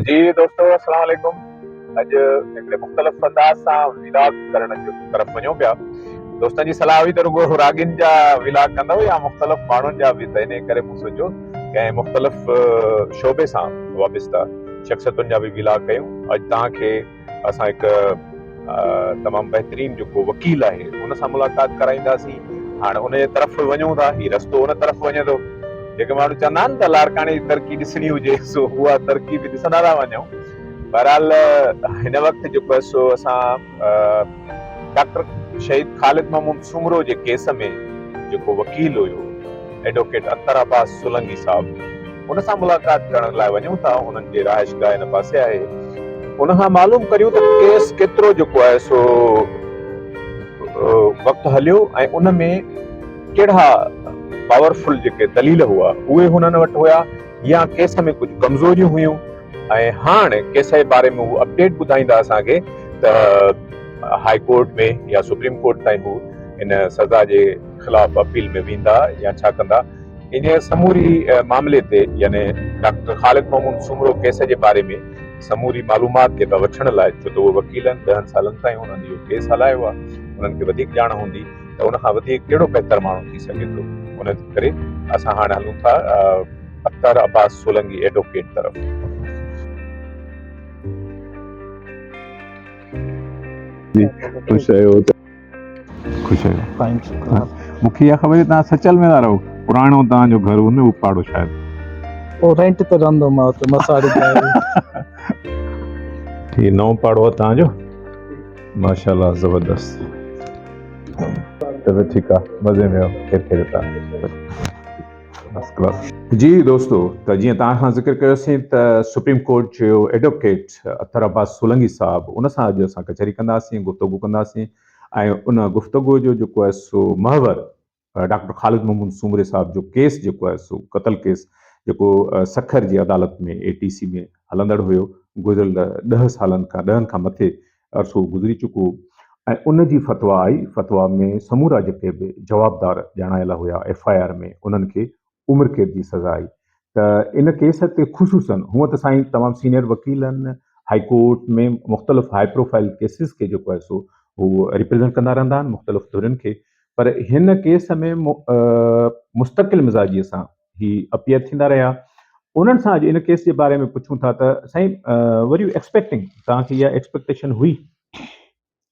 جي دوستو اسلام عليڪم اڄ هڪڙي مختلف انداز سان ولاگ ڪرڻ جي طرف وڃون پيا دوستن جي صلاح هئي ته رڳو راڳين جا ولاگ ڪندو يا مختلف ماڻهن جا به ته انهي ڪري مون سوچيو ڪنهن مختلف شعبي سان وابسته شخصيتن جا به ولاگ ڪيون اڄ توهان کي اسان هڪ تمام بهترين جيڪو وڪيل آهي ان سان ملاقات ڪرائينداسين هاڻي ان جي طرف وڃون ٿا هي رستو ان طرف وڃي ٿو جيڪي ماڻهو چوندا آهن ته لاڙڪاڻي جي ترقي ڏسڻي هجي سو اها ترقي به ڏسندا ٿا وڃون بهرحال هن وقت جيڪو آهي سو اسان ڊاڪٽر شهيد خالد محمود سومرو جي ڪيس ۾ جيڪو وڪيل هيو ايڊووڪيٽ اختر عباس سولنگي صاحب ان سان ملاقات ڪرڻ لاء وڃون ٿا انهن جي رهائشگاهه ان پاسي آهي ان کان معلوم ڪريون ته ڪيس ڪيترو جيڪو آهي سو وقت هليو ۽ ان ۾ ڪهڙا پاورفل جيڪي دليل هئا اهي هنن وٽ هيا يا ڪيس ۾ ڪجهه ڪمزوريون هيون ۽ هاڻ ڪيس جي باري ۾ هو اپڊيٽ ٻڌائيندا اسان کي ته هاء ڪورٽ ۾ يا سپريم ڪورٽ تائين هو ان سزا جي خلاف اپيل ۾ ويندا يا ڇا ڪندا؟ انهيء سموري معاملي تي يعني ڊاڪٽر خالد محمود سومرو ڪيس جي باري ۾ سموري معلومات جيڪا وٺڻ لاء ڇو ته اهو وڪيلن ڏهن سالن تائين هنن اهو ڪيس هلايو آهي انهن کي وڌيڪ ڄاڻ هوندي ته ان کان وڌيڪ ڪهڙو بهتر ماڻهو ٿي سگهي ٿو ان ڪري اسان هاڻ هلون ٿا اختر عباس سولنگي ايڊوڪيٽ طرف. خوش رهيو مون کي اها خبر هئي توهان سچل ۾ ٿا رهو پراڻو توهان جو گهر هو نه هو پاڙو شايد او رينٽ تي رهندو مان ته مساڙي ٺي نو پاڙو هو توهان جو ماشاءالله زبردست چلو ٺيڪ آهي مزي ۾ آهو خير خير تان جي دوستو ته جيئن توهان سان ذڪر ڪيوسين ته سپريم ڪورٽ جو ايڊوڪيٽ اختر عباس سولنگي صاحب ان سان اڄ اسان ڪچهري ڪنداسين گفتگو ڪنداسين ۽ ان گفتگو جو جيڪو آهي سو محور ڊاڪٽر خالد محمود سومري صاحب جو ڪيس جيڪو آهي سو قتل ڪيس جيڪو سکر جي عدالت ۾ اي ٽي سي ۾ هلندڙ هيو گذريل ڏهه سالن کان ڏهن کان مٿي عرصو گذري چڪو ۽ ان جي فتويٰ آئي فتويٰ ۾ سمورا جيڪي به جوابدار ڄاڻايل هيا ايف آء آر ۾ انهن کي عمر قيد جي سزا آئي ته ان ڪيس تي خصوصاً هونء ته سائين تمام سينئر وڪيلن هائي ڪورٽ ۾ مختلف هائي پروفائيل ڪيسز کي جيڪو آهي سو هو ريپريزنٽ ڪندا رهندا آهن مختلف ڌرين کي پر هن ڪيس ۾ مستقل مزاجيء سان هي اپيئر ٿيندا رهيا انهن سان اڄ ان ڪيس جي باري ۾ پڇون ٿا ته سائين ور يو ايڪسپيڪٽنگ توهان کي اها ايڪسپيڪٽيشن هئي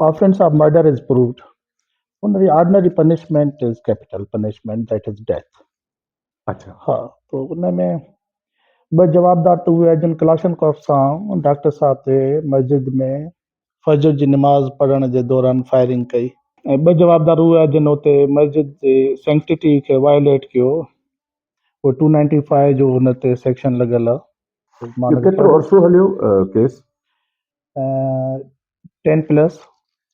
offence of murder is proved ان جي ordinary punishment is capital punishment that is death اچھا ها تو ان ۾ ٻه جوابدار ته اهي جن ڪلاشن ڪوف سان ڊاڪٽر صاحب تي مسجد ۾ فجر جي نماز پڙهڻ جي دوران فائرنگ ڪئي ۽ ٻه جوابدار اهي آهن جن اتي مسجد جي سينڪٽيٽي کي وائليٽ ڪيو اهو ٽو نائنٽي فائيو جو هن تي سيڪشن لڳل آهي مان کي ڪيترو عرصو هليو ڪيس ٽين پلس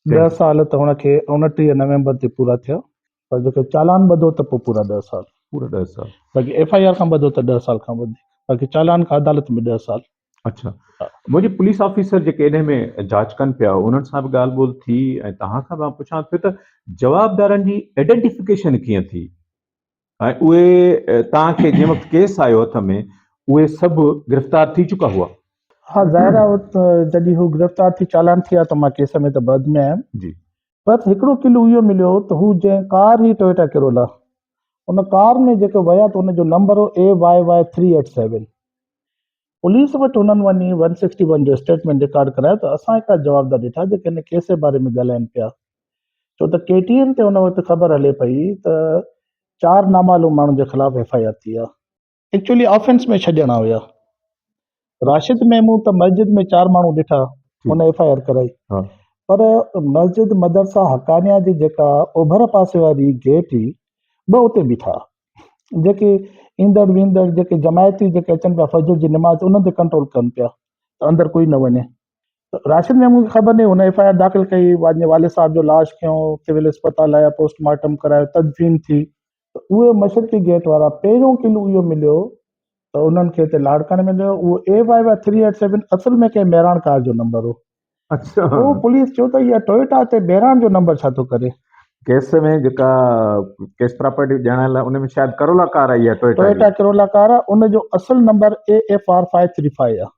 ڏهه سال ته هن کي اوڻٽيهه نومبر تي پورا ٿيا پر جيڪو چالان ٻڌو ته پوء پورا ڏهه سال پورا ڏهه سال باقي ايف آء آر کان ٻڌو ته ڏهه سال کان وڌيڪ باقي چالان کان عدالت ۾ ڏهه سال اچھا منهنجي پوليس آفيسر جيڪي انهي ۾ جاچ ڪن پيا انهن سان به ڳالهه ٻولهه ٿي ۽ توهان کان به مان پڇان ٿو ته جوابدارن جي ائڊنٽيفڪيشن ڪيئن ٿي ۽ اهي توهان کي جنهن وقت ڪيس آيو هٿ ۾ اهي سڀ گرفتار ٿي چڪا هئا؟ ها ظاهر آهي جڏهن هو گرفتار ٿي چالان ٿيا ته مان ڪيس ۾ ته بعد ۾ آيم جي بس هڪڙو ڪلو اهو مليو هو ته هو جنهن ڪار هئي ٽويوٽا ڪرولا ان ڪار ۾ جيڪي ويا ته ان جو نمبر هو AYY387 پوليس وٽ هنن وڃي ون سڪسٽي ون جو اسٽيٽمينٽ رڪارڊ ڪرايو ته اسان هڪڙا جوابدار ڏٺا جيڪي هن ڪيس جي باري ۾ ڳالهائين پيا ڇو ته ڪي ٽي اين تي ان وقت خبر هلي پئي ته چار نامعلوم ماڻهن جي خلاف ايف آء آر ٿي آهي. ايڪچوئلي آفينس ۾ ڇڏڻ آيا راشد ميمون ته مسجد ۾ چار ماڻهو ڏٺا هن ايف آء آر ڪرائي پر مسجد مدرسه حقانيه جي جيڪا اوڀر پاسي واري گيٽ هئي ٻه اتي بيٺا جيڪي ايندڙ ويندڙ جيڪي جماعتي جيڪي اچن پيا فجر جي نماز انهن تي ڪنٽرول ڪن پيا ته اندر ڪوئي نه وڃي راشد ميمون کي خبر ناهي هن ايف آء آر داخل ڪئي وڃي والد صاحب جو لاش کيو سول اسپتال آيا پوسٽ مارٽم ڪرايو تدفين ٿي اهي مشرقي گيٽ وارا پهريون ڪلو اهو مليو ته انهن کي هتي لاڙڪاڻي مليو اهو A Y Y three eight seven اصل ۾ ڪنهن مهراڻ ڪار جو نمبر هو اهو پوليس چيو ته اها ٽويوٽا تي بهراڻ جو نمبر ڇا ٿو ڪري؟ ڪيس ۾ جيڪا ڪيس پراپرٽي ڄاڻايل آهي ان ۾ شايد ڪرولا ڪار آئي آهي ٽويوٽا جي. ٽويوٽا ڪرولا ڪار آهي ان جو اصل number A F R five three five آهي.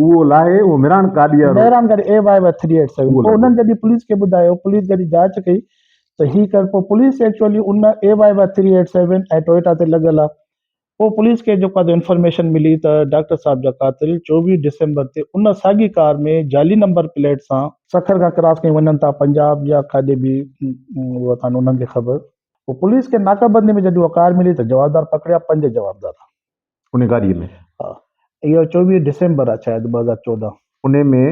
اهو لاهي اهو مهراڻ گاڏي وارو. مهراڻ گاڏي A Y Y three eight seven پوء انهن جڏهن پوليس کي ٻڌايو پوليس جڏهن جاچ ڪئي ته هي ڪر پوء پوليس ايڪچوئلي ان A Y Y three eight seven ۽ Toyota تي لڳل آهي پوء پوليس کي جيڪو آهي انفارميشن ملي ته ڊاڪٽر صاحب جا قاتل چوويهه ڊسمبر تي ان ساڳي ڪار ۾ جعلي نمبر پليٽ سان سکر کان ڪراس ڪري وڃن ٿا پنجاب يا ڪاڏي به هئا ڪانه انهن کي خبر پوء پوليس کي ناڪه بندي ۾ جڏهن اها ڪار ملي ته جوابدار پڪڙيا پنج جوابدار ان گاڏي ۾ ها اهو چوويهه ڊسمبر آهي شايد ٻه هزار چوڏهن. ان ۾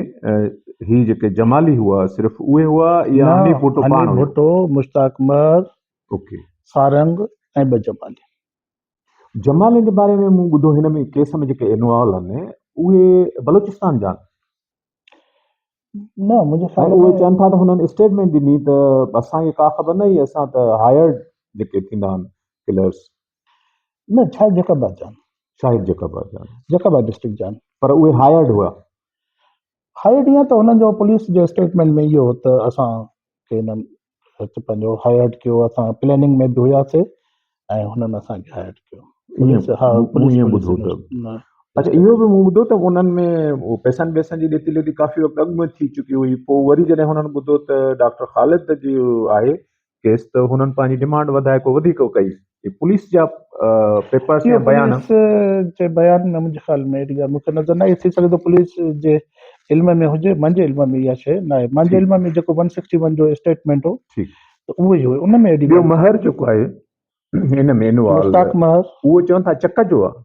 هي جيڪي جمالي هئا صرف اهي هئا يا حنيف ڀٽو پاڻ هيو. حنيف ڀٽو، مشتاق مهر، اوڪي. سارنگ ۽ ٻه جمالي. جمالين جي باري ۾ مون ٻڌو هن ۾ ڪيس ۾ جيڪي انوالو آهن اهي بلوچستان جا آهن نه منهنجي خيال ۾ اهي چون ٿا ته هنن اسٽيٽمنٽ ڏني ته اسان کي ڪا خبر نه هي اسان ته هائرڊ جيڪي ٿيندا آهن ڪلرز نه شايد جيڪب آباد جا شايد جيڪب آباد جا جيڪب آباد ڊسٽرڪٽ جا پر اهي هائرڊ هئا هائرڊ يا ته هنن جو پوليس جي اسٽيٽمنٽ ۾ اهو ته اسان کي هنن سچ پنهنجو هائرڊ ڪيو اسان پليننگ ۾ به هياسي ۽ هنن اسان کي هائرڊ ڪيو اچھا اهو به مون ٻڌو ته انهن ۾ پيسن ويسن جي ڏيتي ليتي ڪافي وقت اڳ ۾ ٿي چڪي هئي پوء وري جڏهن هنن ٻڌو ته ڊاڪٽر خالد جي آهي ڪيس ته هنن پنهنجي ڊمانڊ وڌائي ڪو وڌيڪ ڪئي اهي پوليس جا پيپرس يا بيان. اهو پوليس جي بيان ۾ منهنجي خيال ۾ اهڙي ڳالهه مون کي نظر نه آئي. ٿي سگهي ٿو پوليس جي علم ۾ هجي. منهنجي علم ۾ اها شيء نه آئي. منهنجي علم ۾ جيڪو ون سڪسٽي ون جو اسٽيٽمينٽ هو ته اهو ئي هو. ان ۾ اهڙي ڳالهه. ٻيو مهر جيڪو آهي ان ۾ انوالو. مشتاق مهر. اهو چون ٿا چڪ جو آهي.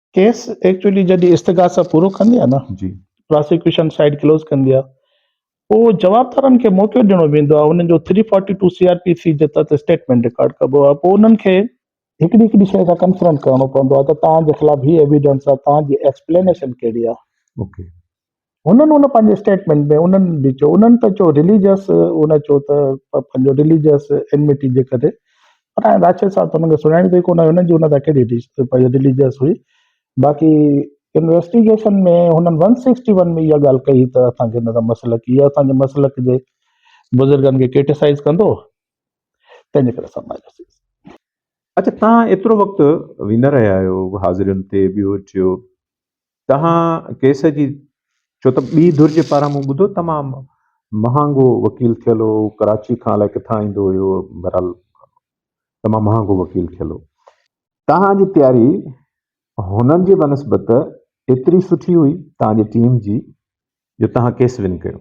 ڪيس ايڪچولي جڏهن استغاثه پورو ڪندي آهي نه جي پراسيڪيوشن سائيڊ ڪلوز ڪندي آهي پوء جوابدارن کي موقعو ڏيڻو ويندو آهي انهن جو three forty two C R P C جي تحت اسٽيٽمينٽ رڪارڊ ڪبو آهي پوء انهن کي هڪڙي هڪڙي شيء سان ڪنفرنٽ ڪرڻو پوندو آهي ته توهان جي خلاف هي ايويڊنس آهي توهان جي ايڪسپلينيشن ڪهڙي آهي اوڪي هنن ان پنهنجي اسٽيٽمينٽ ۾ انهن به چيو انهن ته چيو رليجس ان چيو ته پنهنجو رليجس انميٽي جي ڪري پر هاڻي راشد صاحب ته هنن کي سڃاڻي ته ڪونه هنن جي ان تان ڪهڙي رليجس هئي باقي انويسٽيگيشن ۾ هنن ون سڪسٽي ون ۾ اها ڳالهه ڪئي ته اسان کي هن مسلڪ اها اسان جي مسلڪ جي بزرگن کي ڪرٽيسائز ڪندو تنهنجي ڪري اسان مايوس ٿياسين اچا تان ايترو وقت ويندا رهيا آهيو حاضرين تي ٻيو ٽيو تنهن ڪيس جي ڇو ته ٻي ڌر جي پاران مون ٻڌو تمام مهانگو وڪيل ٿيل هو ڪراچي کان الائي ڪٿان ايندو هيو بهرحال تمام مهانگو وڪيل ٿيل هو تنهن جي تياري هنن جي بنسبت ايتري سٺي هئي تنهن جي ٽيم جي جو تنهن ڪيس ون ڪيو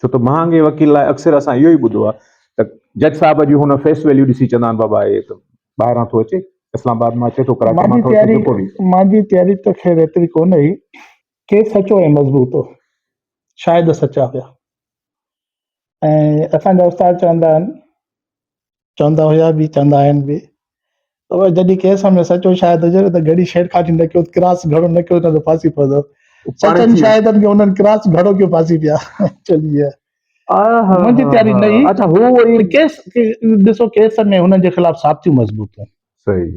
ڇو ته مهانگي وڪيل لاء اڪثر اسان اهو ئي ٻڌو آهي ته جج صاحب جي هن فيس ويليو ڏسي چوندا آهن بابا هي ته ٻاهران ٿو اچي اسلام آباد مان اچي ٿو ڪراچي مان ٿو اچي جيڪو به. مانجي تياري ته خير ايتري ڪونه هئي. ڪيس سچو ۽ مضبوط هو. شاهد سچا هيا. ۽ اسان جا استاد چوندا آهن چوندا هيا به چوندا آهن به پر جڏهن ڪنهن سان ۾ سچو شاهد هجي ته گهڙي ڇيڙکاٽي نه ڪيو ڪراس گهڙو نه ڪيو ته ڦاسي پوندو سچن شاهدن کي انهن ڪراس گهڙو ڪيو ڦاسي پيا چلي منهنجي تياري نه هئي اچھا هو ڪيس ڏسو ڪيس ۾ هنن جي خلاف ثابتيون مضبوطون صحيح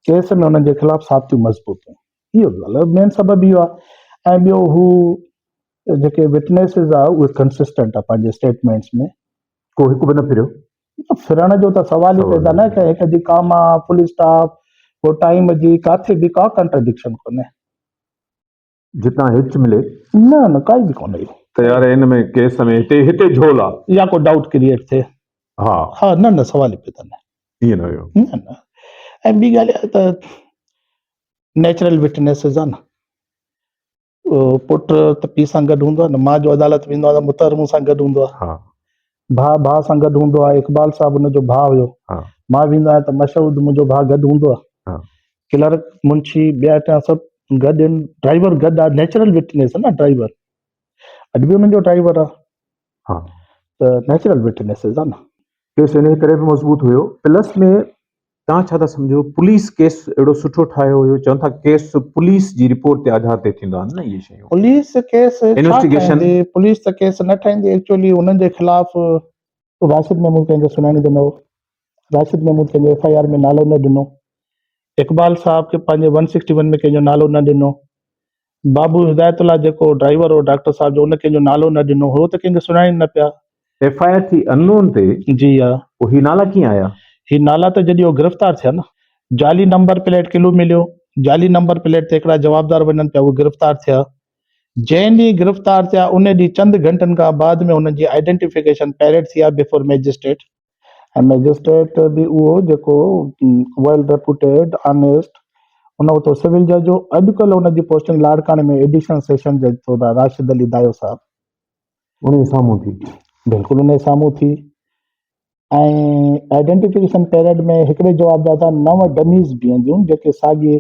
ڪيس ۾ هنن جي خلاف ثابتيون مضبوطون اهو مين سبب اهو آهي ۽ ٻيو هو ته جيڪي وٽنيسز آ اهي ڪنسسٽنٽ آ پنهنجي اسٽيٽمينٽس ۾ ڪو هڪ به نه ڦريو. ڦرڻ جو ته سوال ئي پيدا نه ڪيو هڪ جي ڪاما فل اسٽاپ ڪو ٽائيم جي ڪاٿي به ڪا ڪنٽرڊڪشن ڪونهي. جتان هچ ملي. نه نه ڪائي به ڪونهي. ته يار ان ۾ ڪيس ۾ هتي هتي جهول آ. يا ڪو ڊائوٽ ڪريئيٽ ٿئي. ها. ها نه نه سوال ئي پيدا نه. ائين نه هيو. نه نه ۽ ٻي ڳالهه اها ته نيچرل وٽنيسز آ نه. پٽ ته پيء سان گڏ هوندو آهي نه، مان جو عدالت ويندو آهيان ته مطهر مون سان گڏ هوندو آهي. ها. ڀاء ڀاء سان گڏ هوندو آهي، اقبال صاحب ان جو ڀاء هيو. ها. مان ويندو آهيان ته مشهود منهنجو ڀاء گڏ هوندو آهي. ها. ڪلرڪ، منشي، ٻيا ٽيا سڀ گڏ آهن، ڊرائيور گڏ آهي، نيچرل وٽنيس نه ڊرائيور، اڄ به انهن جو ڊرائيور آهي. ها. ته نيچرل وٽنيسز آهي نه. ڪيس انهيء ڪري به مضبوط هيو، پلس ۾ توهان ڇا ٿا سمجهو پوليس ڪيس اهڙو سٺو ٺاهيو هيو چون ٿا ڪيس پوليس جي رپورٽ تي آڌار تي ٿيندا آهن نه اهي شيون. پوليس ڪيس ڇا ٺاهيندي پوليس ته ڪيس نه ٺاهيندي ايڪچوئلي هنن جي خلاف راشد محمود ڪنهن کي سڃاڻي ته نه هو راشد محمود ڪنهن جو ايف آئي آر ۾ نالو نه ڏنو اقبال صاحب کي پنهنجي ون سڪسٽي ون ۾ ڪنهن جو نالو نه ڏنو بابو هدايت الله جيڪو ڊرائيور هو ڊاڪٽر صاحب جو ان ڪنهن جو نالو نه ڏنو هو ته ڪنهن کي سڃاڻين نه پيا. ايف آء آر ٿي ان نون تي جي ها. پوء هي نالا ڪيئن آيا؟ هي نالا ته جڏهن هو گرفتار ٿيا نه. جعلي نمبر پليٽ ڪلو مليو. جعلي نمبر پليٽ تي هڪڙا جوابدار وڃن پيا اهي گرفتار ٿيا. جنهن ڏينهن گرفتار ٿيا انهي ڏينهن چند گهنٽن کان بعد ۾ هنن جي آئيڊينٽيفڪيشن پيريڊ ٿي آهي بيفور مئجسٽريٽ. ۽ مئجسٽريٽ به اهو جيڪو ويل ريپوٽيڊ، آنيسٽ، ان وقت هو سول جج هو، اڄڪلهه ان جي پوسٽنگ لاڙڪاڻي ۾ ايڊيشنل سيشن جج طور آهي، راشد علي دايو صاحب. انهيء سامهون ٿي. بلڪل انهيء سامهون ٿي ۽ آئيڊينٽيفڪيشن پيريڊ ۾ هڪڙي جوابداده نو ڊميز بيهنديون جيڪي ساڳي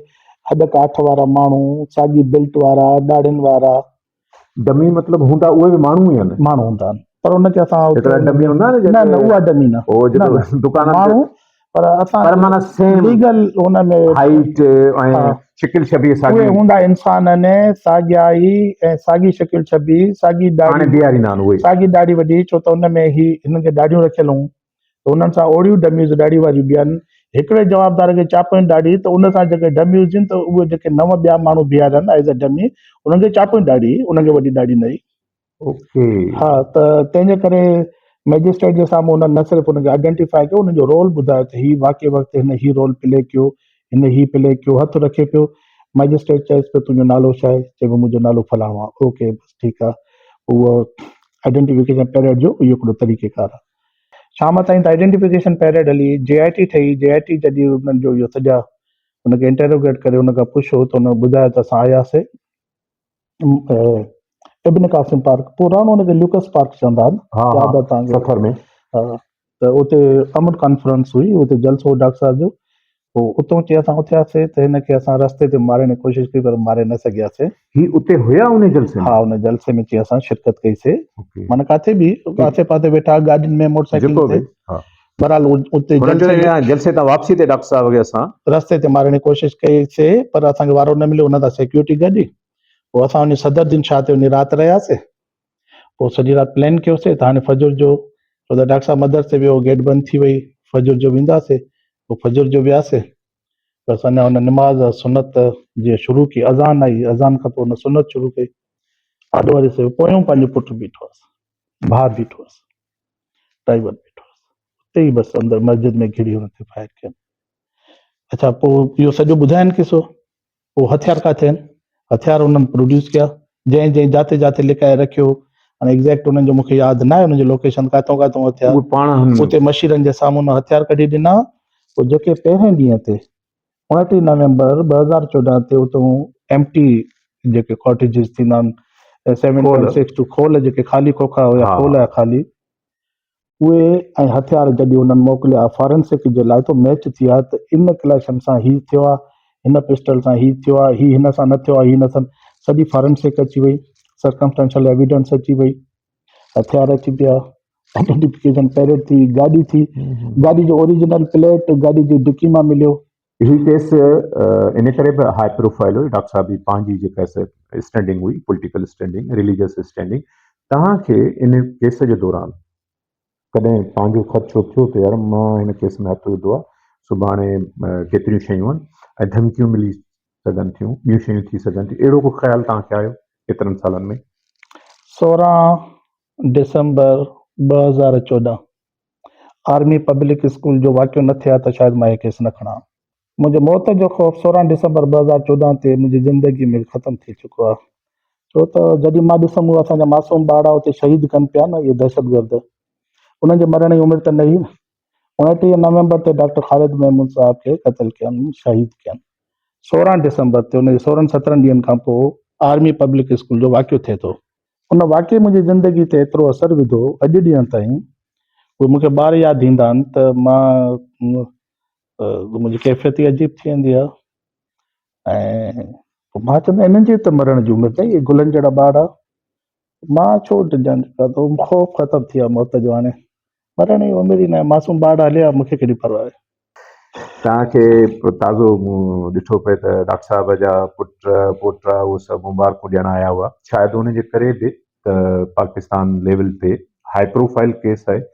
هڏ ڪاٺ وارا ماڻهو، ساڳي بيلٽ وارا، ڏاڙهين وارا، ڊمي مطلب هوندا اهي به ماڻهو ئي آهن. ماڻهو هوندا آهن پر ان کي اسان هڪڙا ڊمي هوندا آهن نه نه اها ڊمي نه هو جيڪو دڪانن ماڻهو پر اسان پر معنيٰ سيم ليگل هن ۾ هائيٽ ۽ شڪل شبيهه ساڳي اهي هوندا انسان آهن ساڳيا ئي ۽ ساڳي شڪل شبيهه ساڳي ڏاڙهي هاڻي بيهاريندا آهن اهي ساڳي ڏاڙهي وڏي ڇو ته ان ۾ هي هنن کي ڏاڙهيون رکيل هون ته انهن سان اوڙيون ڊميز ڏاڙهي واريون بيهن، هڪڙي جوابدار کي چاپين ڏاڙهي ته ان سان جيڪي ڊمي هجن ته اهي جيڪي نو ٻيا ماڻهو بيهارين as a dummy انهن کي چاپين ڏاڙهي، انهن کي وڏي ڏاڙهي نه هئي. اوڪي. ها ته تنهن جي ڪري مئجسٽريٽ جي سامهون انهن نه صرف ان کي آئيڊينٽيفائي ڪيو انهن جو رول ٻڌايو ته هي واقعي وقت هن هي رول پلي ڪيو، هن هي پلي ڪيو، هٿ رکي پيو، مئجسٽريٽ چيس پيو تنهنجو نالو ڇا آهي؟ چئي پيو منهنجو نالو فلاڻو آهي، اوڪي بس ٺيڪ آهي، اهو آئيڊينٽيفڪيشن پيريڊ جو اهو هڪڙو طريقيڪار آهي. شام تائين ته آئيڊينٽيفڪيشن پيريڊ هلي، جي آء ٽي ٺهي، جي آء ٽي جڏهن انهن جو اهو سجا ان کي انٽروگيٽ ڪري ان کان پڇيو ته ان ٻڌايو ته اسان آياسي ابن قاسم پارڪ پراڻو ان کي ليوڪس پارڪ چوندا آهن ها ها ياد آهي تان سفر ۾ ته اتي امن ڪانفرنس هئي اتي جلسو ڊاڪٽر صاحب جو هو اتون چي اسان اٿياسين ته هن کي اسان رستي تي مارڻ جي ڪوشش ڪئي پر ماري نه سگهياسين. هي اتي هيا ان جلسي ۾؟ ها ان جلسي ۾ چي اسان شرڪت ڪئي سي اوڪي معنيٰ ڪاٿي به آسي پاسي ويٺا ها گاڏين ۾ موٽر سائيڪلن جيڪو تي به ها بهرحال اتي هن جلسي چيو ۾ هيا جلسي تان واپسي تي ڊاڪٽر صاحب کي اسان رستي تي مارڻ جي ڪوشش ڪئي سي پر اسان کي وارو نه مليو ان سان سيڪيورٽي گڏي پوء اسان وڃي صدر الدين شاهه تي وڃي رات رهياسين پوء سڄي رات پلان ڪيوسي ته هاڻي فجر جو ڇو ته ڊاڪٽر صاحب مدرسي ويو گيٽ بند ٿي وئي فجر جو وينداسي پوء فجر جو وياسي بس اڃا هن نماز سنت جي شروع ڪي اذان آئي اذان کان پوء هن سنت شروع ڪئي آڏو واري سي پويون پنهنجو پٽ بيٺو هس ڀاء بيٺو هس ڊرائيور بيٺو هس اتي ئي بس اندر مسجد ۾ گهڙي هن تي فائر ڪيم اچھا پوء اهو سڄو ٻڌاين قصو اهو هٿيار ڪاٿي آهن؟ هٿيار انهن پروڊيوس ڪيا، جنهن جنهن جاتي جاتي لڪائي رکيو، هاڻي ايگزيڪٽ انهن جو مون کي ياد ناهي انهن جي لوڪيشن ڪاتئون ڪاتئون هٿيار اهي پاڻ هن اتي مشيرن جي سامهون انهن هٿيار ڪڍي ڏنا، پوء جيڪي پهرين ڏينهن تي اڻٽيهه نومبر ٻه هزار چوڏهن تي اتئون ايمٽي جيڪي ڪاٽيجز ٿيندا آهن سيون پوائنٽ سڪس ٽو کول جيڪي خالي کوکا هيا کول هيا خالي اهي ۽ هٿيار گڏي هنن موڪليا فارنسڪ جي لاء ته ميچ ٿي ها ته ان ڪليشن سان هي ٿيو ها هن پسٽل سان هي ٿيو ها هي هن سان نه ٿيو ها هي نه ٿن سڄي فارنسڪ اچي وئي سرڪمسٽنشل ايويڊنس اچي وئي هٿيار اچي پيا آئيڊينٽيفڪيشن پيريڊ ٿي گاڏي ٿي گاڏي جو اوريجنل پليٽ گاڏي جي ڊڪي مان مليو اهو ڪيس ان ڪري به هاء پروفائل هو ڊاڪٽر صاحب جي پنهنجي جيڪا اسٽينڊنگ هئي پوليٽيڪل اسٽينڊنگ ريليجس اسٽينڊنگ توهان کي ان ڪيس جي دوران ڪڏهن پنهنجو خدشو ٿيو ته يار مان هن ڪيس ۾ هٿ وڌو آهي سڀاڻي ڪيتريون شيون آهن ۽ ڌمڪيون ملي سگهن ٿيون ٻيون شيون ٿي سگهن ٿيون اهڙو ڪو خيال توهان کي آيو ايترن سالن ۾ سورهن ڊسمبر ٻه هزار چوڏهن آرمي پبلڪ اسڪول جو واقعو نه ٿئي ها ته شايد مان هي ڪيس نه کڻان ها. منهنجي موت جو خوف سورهن ڊسمبر ٻه هزار چوڏهن تي منهنجي زندگي ۾ ختم ٿي چڪو آهي ڇو ته جڏهن مان ڏسم اهي اسان جا معصوم ٻارڙا اتي شهيد ڪن پيا نه اهي دهشتگرد انهن جي مرڻ جي عمر ته نه هئي نه اڻٽيهه نومبر تي ڊاڪٽر خالد محمود صاحب کي قتل ڪين شهيد ڪين سورهن ڊسمبر تي ان جي سورهن سترهن ڏينهن کان پوء آرمي پبلڪ اسڪول جو واقعو ٿئي ٿو ان واقعي منهنجي زندگي تي ايترو اثر وڌو اڄ ڏينهن تائين اهي مون کي ٻار ياد ايندا آهن ته مان منهنجي ڪيفيت ئي عجيب ٿي ويندي آهي ۽ پوء مان چوندو انهن جي ته مرڻ جي عمر اهي گلن جهڙا ٻار آهي مان ڇو ڊڄان خوف ختم ٿي ويو موت جو هاڻي مرڻ جي اميد ئي ناهي. معصوم ٻار هلي ويا، مون کي ڪهڙي پرواهه آهي. توهان کي تازو مون ڏٺو پئي ته ڊاڪٽر صاحب جا پٽ پوٽا اهي سڀ مبارڪون ڏيڻ آيا هئا. شايد ان جي ڪري به ته پاڪستان ليول تي هائي پروفائل ڪيس آهي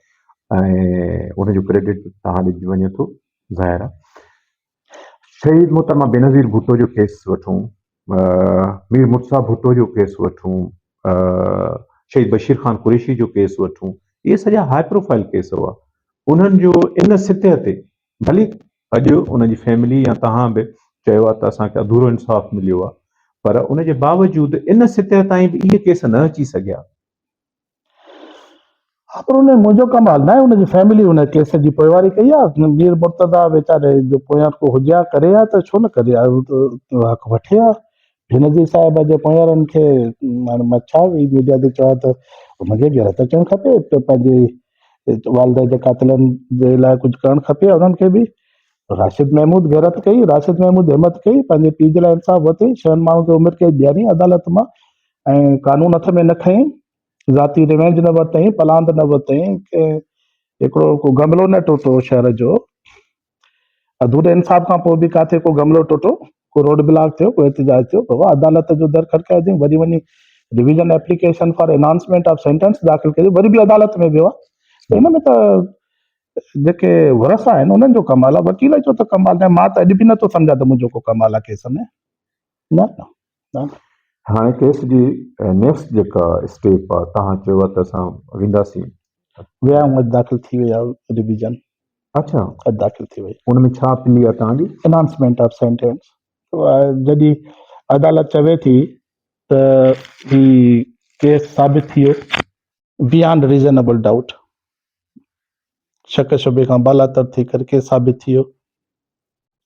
۽ ان جو ڪريڊٽ توهان ڏجي وڃي ٿو. ظاهر آهي شهيد محترمه بينظير ڀٽو جو ڪيس وٺون، مير مرتضيٰ ڀٽو جو ڪيس وٺون، شهيد بشير خان قريشي جو ڪيس وٺون، اهي سڄا هاء پروفائيل ڪيس هئا. انهن جو ان سطح تي ڀلي اڄ انهن جي فيملي يا توهان به چيو آهي ته اسان کي اڌورو انصاف مليو آهي پر ان جي باوجود ان سطح تائين به اهي ڪيس نه اچي سگهيا. ها پر ان ۾ منهنجو ڪمال ناهي ان جي فيملي ان ڪيس جي پوئواري ڪئي آ مير مرتضيٰ ويچاري جو پويان ڪو هجي ها ڪري ها ته ڇو نه ڪري ها هو ته حق وٺي ها بينظير صاحب جي پويارن کي هاڻي مان ڇا ميڊيا تي چوان ته ان کي غيرت اچڻ کپي ته پنهنجي والده جي قاتلن جي لاء ڪجهه ڪرڻ کپي ها انهن کي به راشد محمود غيرت ڪئي راشد محمود همت ڪئي پنهنجي پيء جي لاء انصاف وتي شهن ماڻهن کي عمر قيد ڏياري عدالت مان ۽ قانون هٿ ۾ نه کنئين، ذاتي ريونج نه ورتئين، پلاند نه ورتئين، هڪڙو ڪو گملو نه ٽوٽو شهر جو، اڌوري انصاف کان پوء به ڪاٿي ڪو گملو ٽوٽو، ڪو روڊ بلاڪ ٿيو، ڪو احتجاج ٿيو، بابا عدالت جو در کڙڪائي اٿئي، وري وڃي division application for enhancement of sentence داخل ڪجي، وري به عدالت ۾ ويو آهي، ته ان ۾ ته جيڪي ورثا آهن انهن جو ڪمال آهي، وڪيل جو ته ڪمال ناهي، مان ته اڄ به نٿو سمجهان ته منهنجو ڪو ڪمال آهي ڪيس ۾، نه. هاڻي ڪيس جي نيڪسٽ جيڪا اسٽيپ آ توهان چيو آ ته اسان وينداسين. ويا آهيون اڄ داخل ٿي وئي آ ريويزن. اڇا اڄ داخل ٿي وئي. ان ۾ ڇا پلي آ توهان جي؟ انهانسمينٽ آف سينٽينس جڏهن عدالت چوي ٿي ته هي ڪيس ثابت ٿي ويو بيانڊ ريزنيبل ڊائوٽ شڪ شبهي کان بالاتر ٿي ڪري ڪيس ثابت ٿي ويو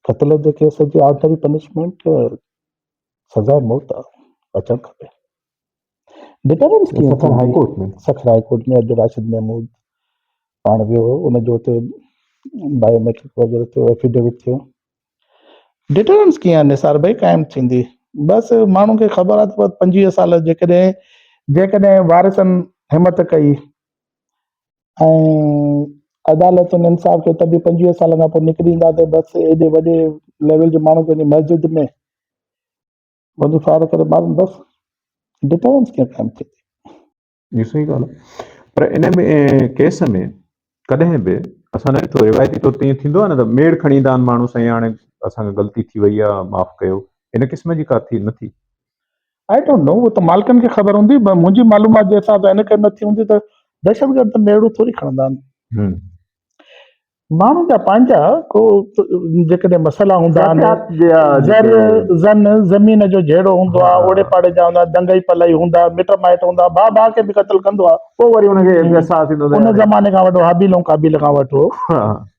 قتل جي ڪيس جي آرڊنري پنشمينٽ سزا موت اچڻ کپي ڊٽرنس ڪيئن Sukkur high court ۾ Sukkur high court ۾ اڄ راشد محمود پاڻ ويو هو ان جو اتي بائيوميٽرڪ وغيرہ ٿيو ايفيڊيوٽ ٿيو ڊٽرنس ڪيئن نثار ڀائی قائم ٿيندي بس ماڻهو کي خبر آهي ته پنجويهه سال جيڪڏهن جيڪڏهن وارثن همت ڪئي ۽ عدالتن انصاف کي تڏهن پنجويهه سالن کان پوء نڪري ايندا ته بس ايڏي وڏي ليول جي ماڻهو کي وڃي مسجد ۾ وڃي فائر ڪري مارن بس ڊٽرنس ڪيئن قائم ٿئي جي صحيح ڳالهه آهي پر ان ۾ ڪيس ۾ ڪڏهن به اسان نه ڏٺو روايتي طور تي ائين ٿيندو آهي نه ته ميڙ کڻي ايندا آهن ماڻهو سائين هاڻي اسان کي غلطي ٿي وئي آهي معاف ڪيو ان قسم جي ڪا ٿي نه ٿي آئي ڊونٽ نو اهو ته مالڪن کي خبر هوندي پر منهنجي معلومات جي حساب سان هن کي نه ٿي هوندي ته دهشتگرد ته ميڙو ٿوري کڻندا آهن ماڻهن جا پنهنجا ڪو جيڪڏهن مسئلا هوندا آهن زن زمين جو جهيڙو هوندو آهي اوڙي پاڙي جا هوندا دنگئي پلئي هوندا مٽ مائٽ هوندا ڀاء ڀاء کي به قتل ڪندو آهي پوء وري ان کي احساس ٿيندو ان زماني کان وٺو حابيل ۽ قابيل کان وٺو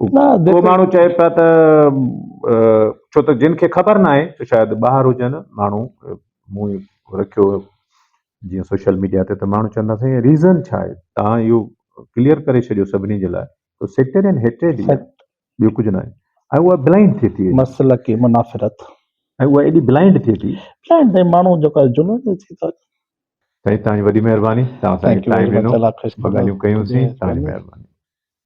ڪو ماڻهو چئي پيا ته ڇو ته جن کي خبر نه آهي ته شايد ٻاهر هجن ماڻهو مون رکيو جيئن سوشل ميڊيا تي ته ماڻهو چوندا سائين ريزن ڇا آهي تان اهو ڪليئر ڪري ڇڏيو سڀني جي لاء ته سيڪٽرين هيٽريڊ هي ٻيو ڪجهه نه آهي ۽ اها بلائنڊ ٿي ٿي مسلڪي منافرت ۽ اها ايڏي بلائنڊ ٿي ٿي بلائنڊ تي ماڻهو جو ڪا جنون جو ٿي ٿو سائين تان وڏي مهرباني تان سائين ٽائم ڏنو ڳالهيون ڪيون سين تان مهرباني